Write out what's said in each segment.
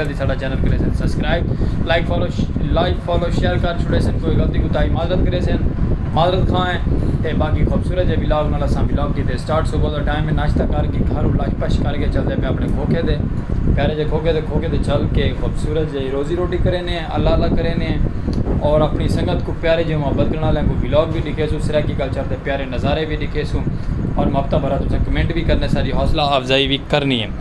جلدی ساڈا چینل کریسن subscribe like follow like follow share کر چھوڑے سن کوئی غلطی کوتاہی معذرت کریسن معذرت خواہ ہیں تے باقی خوبصورت جے ولاگ نال اساں ولاگ کیتے سٹارٹ صبح دا ٹائم ہے ناشتہ کر کے گھر لش پش کر کے چلدے پے اپنے کھوکھے دے پیارے جے کھوکھے دے کھوکھے دے چل کے خوبصورت جے روزی روٹی کرینے ہیں اللہ اللہ کرینے ہیں اور اپنی سنگت کو پیارے جے محبت کرنا لیں کو ولاگ بھی دکھے سو سرائیکی کلچر دے پیارے نظارے بھی دکھے سو اور محبتہ بھرا تساں کمنٹ بھی کرنے ساری حوصلہ افزائی بھی کرنی ہے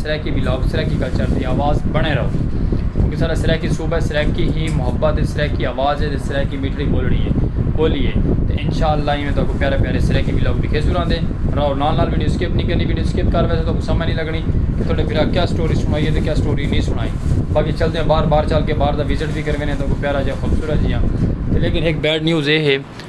سرائیکی ولاگ سرائیکی کلچر دی آواز بݨے رہو کیونکہ ساݙا سرائیکی صوبہ سرائیکی ہی محبت ہے سرائیکی آواز ہے تے سرائیکی میٹھڑی بولڑی ہے بولی ہے تے انشاءاللہ ایویں تہاکوں پیارے پیارے سرائیکی ولاگ ݙکھیسوں رہندے رہو نال نال ویڈیو سکپ نی کرنی ویڈیو سکپ کر ویسے تہاکوں سمجھ نی لڳݨی کہ تہاݙے بھرا کیا سٹوری سݨائی ہے تے کیا سٹوری نی سݨائی باقی چلدے ہاں باہر باہر چل کے باہر دا وزٹ وی کر ویندے ہاں تہاکوں پیارا جیہا خوبصورت جیہا تے لیکن ہک بیڈ نیوز اے ہے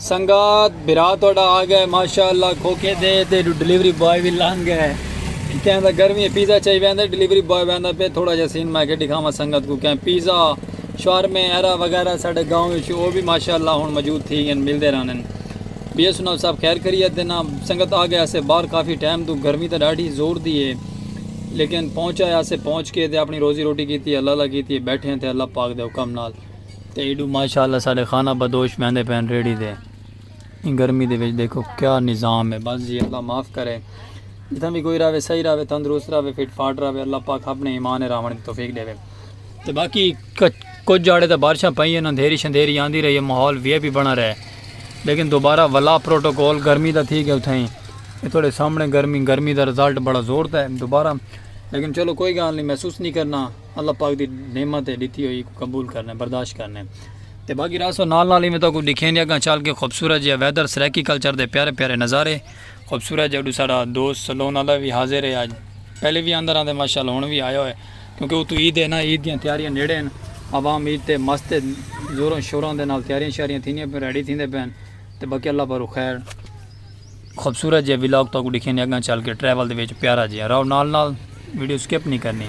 سنگات برا تہاڈا آ گئے ماشاءاللہ کھوکھے دے تے ڈلیوری بوائے بھی لنگ گئے کہیں دا گرمی ہے پیزا چاہی ویندا ڈلیوری بوائے ویندا پہ تھوڑا جا سین میں کہ دکھاواں سنگت کو کہیں پیزا شورمے ایرا وغیرہ ساڈے گاؤں وچ او بھی ماشاءاللہ ہن موجود تھی گئے ملدے رہنے بی ایس او صاحب خیر خیریت دے نا سنگت آ گئے اسے باہر کافی ٹائم تو گرمی تے ڈاڈھی زور دی ہے لیکن پہنچا یا سے پہنچ کے تے اپنی روزی روٹی کیتی ہے اللہ اللہ کیتی ہے بیٹھے ہیں تے اللہ پاک دے حکم نال تے ایڈو ماشاءاللہ ساڑے خانہ بدوش بیندے پین ریڑی دے گرمی دے وچ دیکھو کیا نظام ہے بس جی اللہ معاف کرے جتنا بھی کوئی راوے صحیح راوے تندرست راوے فٹ فاٹ راوے اللہ پاک اپنے ایمان راونے توفیق دے وے تے باقی کچھ جاڑے تے بارشاں پئیں ہن اندھیری شندھیری آندی رہی ہے ماحول وی اے پی بنا رہے لیکن دوبارہ ولا پروٹوکول گرمی دا تھی گیا اتھائیں اے تھوڑے سامنے گرمی گرمی دا رزلٹ بڑا زور تے دوبارہ لیکن چلو کوئی گال نہیں محسوس نہیں کرنا اللہ پاک دی نعمت ہے ڈیتھی ہوئی قبول کرنے برداشت کرنے تے باقی راسو نال نال ہی میں تو کو دکھیں دیا گا چل کے خوبصورت جی ویدر سریکی کلچر دے پیارے پیارے نظارے خوبصورت جی اڈو سارا دوست سلون اللہ بھی حاضر ہے آج پہلے بھی اندر آندے ماشاءاللہ ہون بھی آیا ہوئے کیونکہ اتوں عید ہے نا عید دیاں تیاریاں نیڑے ہن عوام عید تے مست ہے زوراں شوراں دے نال تیاریاں شیاریاں تھیندیاں پن ریڈی تھیندے پن تے باقی اللہ پاروں خیر خوبصورت جے ولاگ تو کو ڈکھینے اگاں چل کے ٹریول دے وچ پیارا جے راو نال نال ویڈیو سکپ نہیں کرنی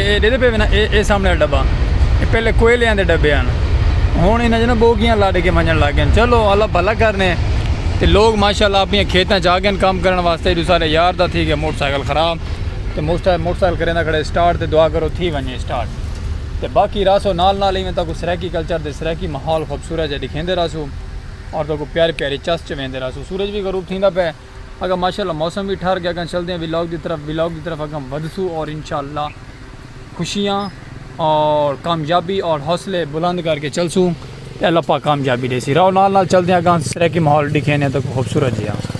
اے ݙیکھدے پئے وینا اے اے سامݨے آلا ݙبہ اے پہلے کوئلیاں دے ݙبے ہن ہݨ انہاں چ ٻوگیاں لݙ کے ونڄݨ لڳ ڳئن چلو اللہ بھلا کرݨے تے لوک ماشاءاللہ اپݨیاں کھیتاں چ آڳئن کم کرݨ واسطے ݙو سارے یار دا تھی ڳیا موٹر سائیکل خراب تے موٹر سائیکل کریندہ کھڑے سٹارٹ تے دعا کرو تھی ونڄے سٹارٹ تے باقی رہسو نال نال ایویں تاکوں سرائیکی کلچر تے سرائیکی ماحول خوبصورت جیہا ݙکھیندے رہسوں اور تاکوں پیاری پیاری چس چ ویندے رہسوں سورج وی غروب تھیندا پئے اگاں ماشاءاللہ موسم وی ٹھر گیا اگاں چلدے ہیں ولاگ دی طرف ولاگ دی طرف اگاں ودھسو اور انشاءاللہ خوشیاں اور کامیابی اور حوصلے بلند کر کے چلسو تے اللہ پاک کامیابی دے سی راو نال نال چلدے ہیں اگاں سریکی ماحول دکھینے ہیں تو خوبصورت جی ہاں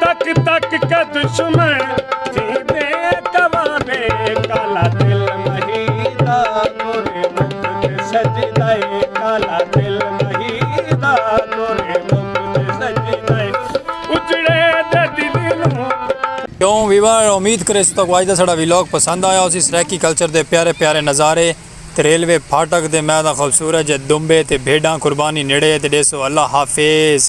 تک تک کے دشمن تھیندے کوانے کالا دل مہیدا تورے مکھ تے سجدہ کالا دل مہیدا تورے مکھ تے سجدہ اجڑے دے دل نو کیوں ویور امید کرے ستو کو اج دا سڑا ویلوگ پسند آیا اسی سریکی کلچر دے پیارے پیارے نظارے تے ریلوے پھاٹک دے میدان خوبصورت جے دمبے تے بھیڈاں قربانی نیڑے تے ڈیسو اللہ حافظ